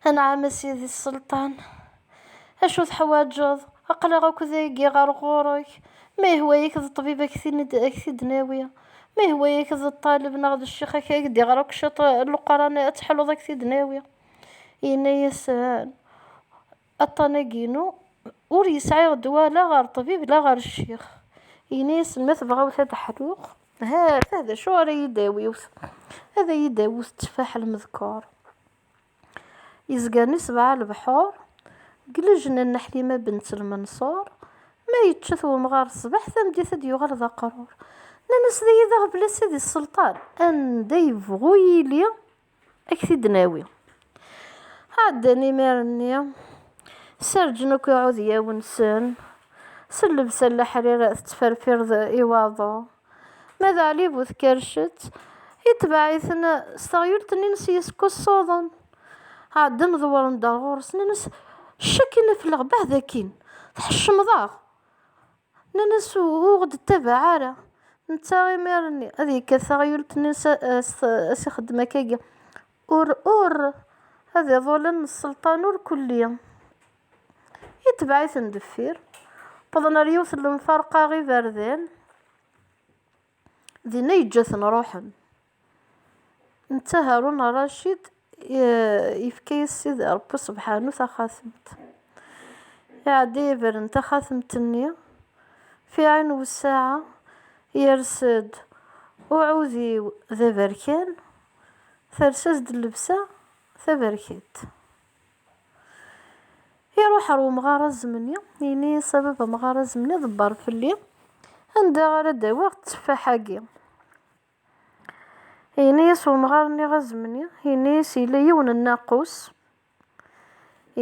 Anɛam a sidi sselṭan. Acu teḥwaǧeḍ? Aql-aɣ akk dagi ɣer ɣur-k. Ma yehwa-yak d ṭṭbib a k-t-id-nawi. Ma yehwa-yak d ṭṭaleb neɣ d ccix a k-d-iɣer akk ciṭ n Leqran a teḥluḍ a k-t-id-nawi. Yenna-yasen, Aṭṭan-agi-inu ur yesɛi ddwa la ɣer ṭṭbib la ɣer ccix. Yenna-asen, Ma tebɣawt ad ḥluɣ, ha-t-a d acu ara yi-d-tawiwt, ad ayi-d-awwet tteffaḥ lmedkeṛ yezgan i sebɛa lebḥuṛ, deg lejna n Ḥlima bent Lmenṣuṛ. Ma yečča-t wemɣaṛ ṣṣbeḥ, tameddit ad d-yuɣal d aqrur. Nnan-as, D ay-d aɣbel ass-a di sselṭan, anda yebɣu yili. Ad k-t-id-nawi. Ɛeddan imir-nni, serǧen akk iɛudyawen-nsen, s llebsa n leḥrir tettferfireḍ i waḍu. Ma d Ɛli bu Tkercet, itbeɛ-iten s teɣyult-nni-ines yeskuṣṣuḍen. Ɛeddan ḍewren-d ar ɣur-s, nnan-as, Ccak i nafleɣ, beɛd akkin, tḥeccmeḍ-aɣ! Nnan-as ur ɣ-d-ttabaɛ ara. Netta imir-nni ad yekkat taɣyult-nni as ixeddem akkagi. Ur, ur, ad iḍulen n sselṭan ur kulli. Itbeɛ-iten deffir. Wwḍen ar yiwet n lemferqa iberdan. Dinna yeǧǧa-ten ruḥen. Netta Harun Racid yefka-yas Sidi Ṛebbi Sebḥanu taxatemt. Iɛedda yebren taxatemt-nni, fi ɛin wessaɛa yers-d uɛudiw d aberkan, ters-as-d llebsa taberkant. Iruḥ ar umɣar azemni, yenna-yas a baba amɣar azemni ḍebber fell-i, anda ara d-awiɣ tteffaḥ-agi? Yenna-yas umɣar-nni azemni, yenna-yas yella yiwen n nnaqus,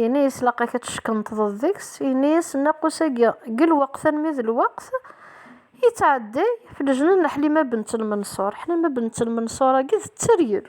yenna-yas laqak ad teckenṭḍeḍ deg-s, yenna-yas nnaqus-agi deg lweqt almi d lweqt yettɛedday f lejna n Ḥlima Bent Lmenṣur, Ḥlima Bent Lmenṣur-agi d tteryel.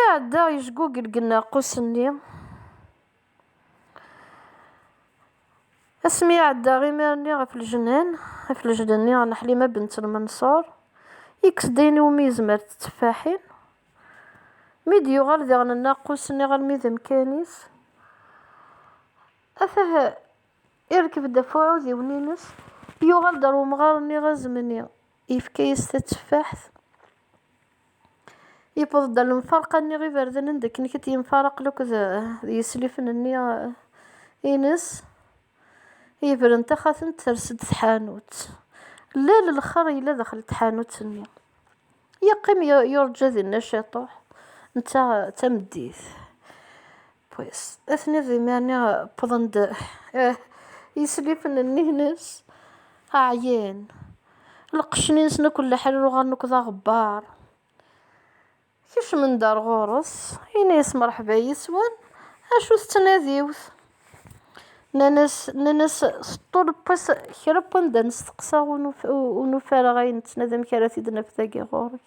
Iɛedda yejgugel deg nneɛqus-nni. Asmi iɛedda imir-nni ɣef lejnan, ɣef lejnan-nni n Ḥlima bint Lmenṣur, yekkes-d ayen iwumi yezmer d tteffaḥin. Mi d-yuɣal diɣen nneɛqus-nni ɣalmi d amkan-is, atah irkeb-d ɣef uɛudiwen-ines, yuɣal-d ɣer umɣar-nni azemni. Yefka-yas tateffaḥt. Yewweḍ-d ɣer lemfarqa-nni iberdanen d akken kit yemfaraqen akked d yeslifen-nni ines. Yebren taxatemt ters-d tḥanut. Lal lxer yella daxel tḥanut-nni. Yeqqim yurǧa dinna ciṭuḥ netta d tameddit. Pues, atni d imerni wwḍen-d yislifen-nni-ines, ɛyan, lqecc-nni-nsen akk n leḥrir uɣalen akk d aɣebbar. Kecmen-d ar ɣur-s, yenna-as mṛeḥba yis-wen, acu tettnadiwt? Nnan-as, nnan-as, teṭṭul pues kra n wanda nesteqsa ur nufi ara ayen nettnadi amek ara t-id-naf dagi ɣur-k.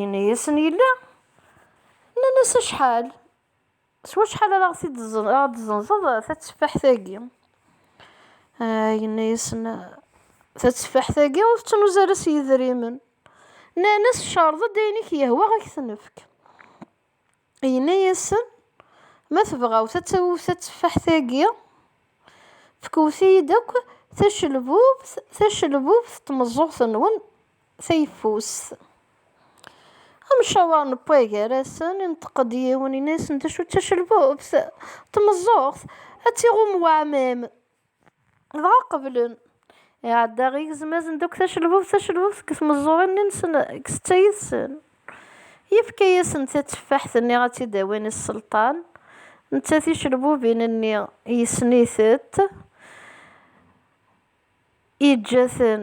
Yenna-yasen yella. Nnan-as acḥal? S wacḥal ara ɣ-d-tzenzeḍ tatteffaḥt-agi? Ah, yenna-yasen, tatteffaḥt-agi ur tettnuz ara s yedrimen. Nnan-as, cerḍ-d ayen i k-yehwa ad k-t-nefk. Yenna-yasen, Ma tebɣawt ad tawwet tatteffaḥt-agi, fkewt-iyi-d akk tacelbubt, tacelbubt n tmeẓẓuɣt-nwen tayeffust. Amcawer n Pua gar-asen, inṭeq-d yiwen, yenna-yasen, D acu d tacelbubt? Tmeẓẓuɣt, ad tt-iɣum weɛmam. Dɣa qeblen. Iɛedda igezmazen d akk tacelbubt tacelbubt deg tmeẓẓurin-nsen deg setta yid-sen. Yefka-asen tatteffaḥt-nni ad tt-id-awin i sselṭan, netta ticelbubin-nni yessen-itent, yeǧǧa-ten.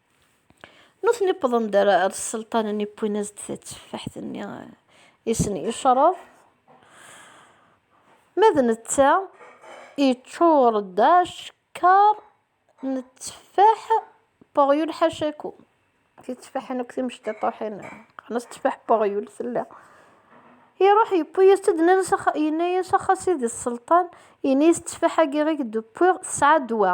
Nutni wwḍen-d ar sselṭan-nni, wwin-as-d tatteffaḥt-nni i sen-yecreḍ. Ma d netta, yeččur-d acekkeṛ n tteffaḥ Poryul ḥacaku. Titteffaḥin akk timecṭiṭuḥin, qqaren-as tteffaḥ Poryul, tella. Iṛuḥ yewwi-yas-tt-id, yenna-yas, Axa sidi sselṭan, ini-yas tteffaḥ-agi i k-d-wwiɣ, tesɛa ddwa.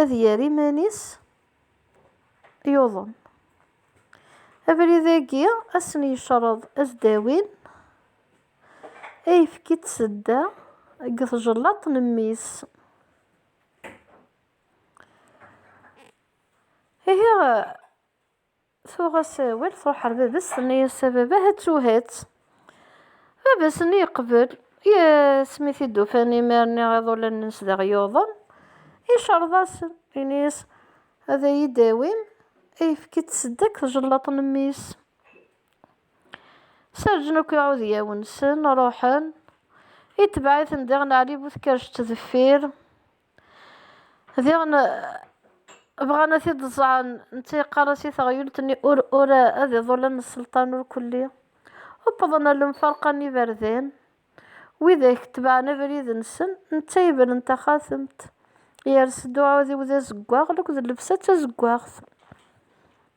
ad yerr iman-is yuḍen. Abrid-agi ad sen-yecreḍ ad d-awin ayefki d tsedda deg tjellaṭ n mmi-s. Ihi Tuɣ-as awal, truḥ ar baba-s, tenna-as, A baba, hattuhat! Baba-s-nni yeqbel, yes, mi t-id-ufan imir-nni iḍulan-ns daɣ yuḍen, icerreḍ-asen, yenna-as, Ad iyi-d-tawim ayefki d tseddakt tjellaḍt n mmi-s. Serǧen akk iɛudiyawen-nsen, ruḥen. Itbeɛ-iten diɣen Ɛli bu Tkerject deffir. Diɣen bɣan ad t-id-ẓẓɛen, netta yeqqar-as i teɣyult-nni ur, ur ad iḍulen n sselṭan ur kulli. Uwḍen ar lemferqa n yiberdan, widak tebɛen abrid-nsen, netta yebren taxatemt, yers-d uɛudiw d azeggaɣ, lekk d llebsa d tazeggaɣt.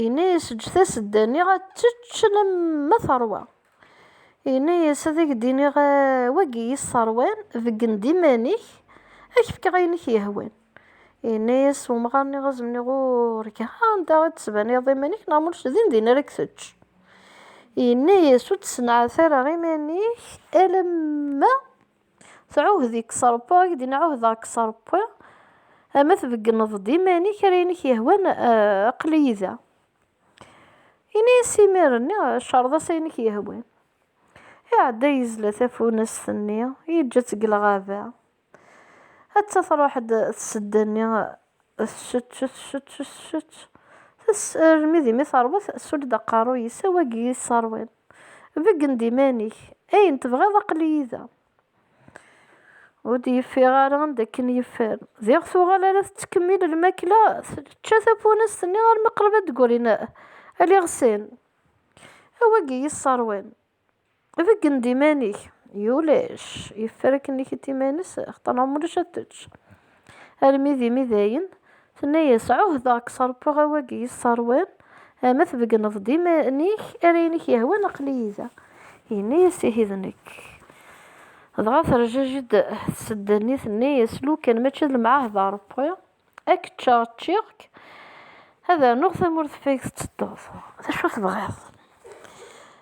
Yenna-yas, Eǧǧ tasedda-nni ad tečč alamma teṛwa. Yenna-yas, Ad ak-d-iniɣ, wagi i yi-sseṛwan, beggen-d iman-ik, ad ak-fkeɣ ayen i k-yehwan. Yenna-yas umɣar-nni, Ad as-d-iniɣ, Urgaɣ, anda i d-tettbaniḍ iman-ik, neɣ ma ulac din din ara k-tečč. Yenna-yas, Ur d-ssenɛat ara iman-ik alamma. Tɛuhd-ik s Ṛebbi, ad k-d-ini ɛuhdeɣ-k s Ṛebbi, ma tbeggneḍ-d iman-ik ar ayen i k-yehwan, aql-iyi da. Ini-as imir-nni, cṛeḍ-as ayen i k-yehwan. Iɛedda yezla tafunast-nni, yeǧǧa-tt deg lɣaba. Atta tṛuḥ-d tsedda-nni, tsutt, tsutt, tsutt, tess, armi d imi terweḍ, tessull-d aqerru-is, awagi i yesseṛwan. Beggen-d iman-ik, ayen tebɣiḍ aql-iyi da. Ur d-yeffiɣ ara anda akken yeffer. Diɣ tuɣal ara tettkemmil lmakla, tečča tafunast-nni armi qrib ad d-ggrin aliɣsan. A wagi yesseṛwan, beggen-d iman-ik. Ulac, yeffer akken ikit iman-is, axaṭer neɣ ma ulac ad tečč. Armi d imi dayen, tenna-yas, Ɛuhdeɣ k s-rebbeɣ a wagi yesserwan, ma tbegneḍ-d iman-ik ar ayen i k-yehwan aql-iyi da. Yenna-yas, Ihi d nekk. Dɣa terjaj-d tsedda-nni tenna-yas, Lukan mačči d lemɛahda a Rebbi, a k-ččeɣ ččiɣ-k, ad rnuɣ tamurt ɣef ayeg tettedduḍ, d acu tebɣiḍ.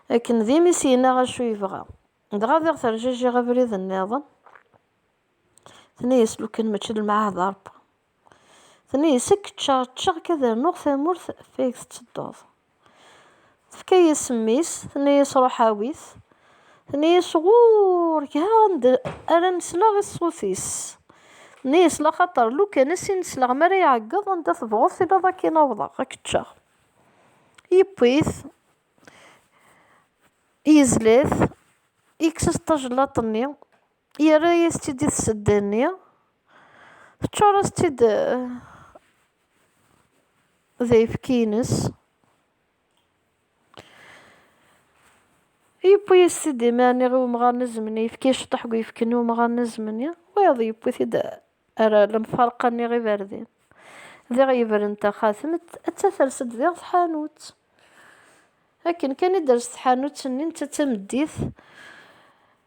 Akken d imi-s yenna acu yebɣa. Dɣa diɣ terjaj-iɣ abrid nniḍen. Tenna-yas lukan mačči d lmeɛhad a Rebbi. Tenna-yas akk ččaɣ ččaɣ akka ad rnuɣ tamurt fayeg tettedduḍ. Tefka-yas mmi-s, tenna-yas ruḥ awi-t. Tenna-yas ɣur-k ha anda ara nesleɣ i ṣṣut-is. Tenna-yas laxaṭer lukan as i nesleɣ mi ara iɛeggeḍ anda tebɣuḍ tiliḍ ad k-in-awḍeɣ, ad k-ččeɣ. Yewwi-t, yezla-t, yekkes-as tajellaṭ-nni, Yerra-yas-tt-id i tsedda-nni, teččur-as-tt-id d ayefki-ines. Yewwi-yas-t-id iman-nni i umɣar n zzem-nni, yefka-yas ciṭuḥ n uyefki n umɣar n zzem-nni, wayeḍ yewwi-t-id ar lemfarqa-nni i Berdin. Diɣ yebren taxxatem, atta ters-d diɣ tḥanut. Akken kan i d-ters tḥanut-nni, netta d tameddit,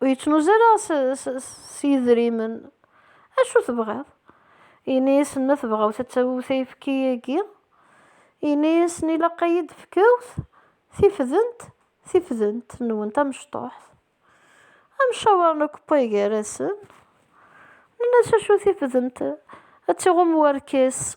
Ur yettnuz ara s yedrimen. Acu tebɣiḍ? Ini-yasen ma tebɣawt ad tawewt ayefki-agi. Ini-yasen ilaq ad yi-d-fkewt tifdent, tifdent nwen tamecṭuḥt. Amcawar n ukewpay gar-asen. Nenna-as acu tifdent? Ad tiɣum warkas.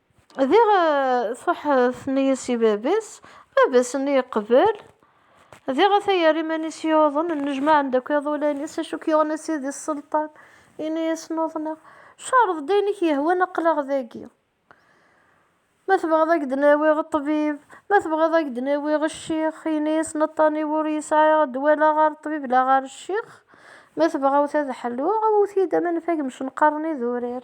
Diɣ truḥ tenna-yas i baba-s, baba-s nni yeqbel, diɣ ata yerra iman-is yuḍen, nnejmaɛen-d akk iḍulan-is, acu k-yuɣen a sidi sselṭan? Yenna-yasen uḍneɣ, careḍ-d ayen i k-yehwan aql-aɣ dagi, ma tebɣiḍ ad k-d-nawiɣ ṭṭbib, ma tebɣiḍ ad k-d-nawiɣ ccix, yenna-yasen aṭṭan-iw ur yesɛi ddwa la ɣer ṭṭbib la ɣer ccix, ma tebɣawt ad ḥluɣ, awwet-iyi-d aman n fagem cenqaren idurar.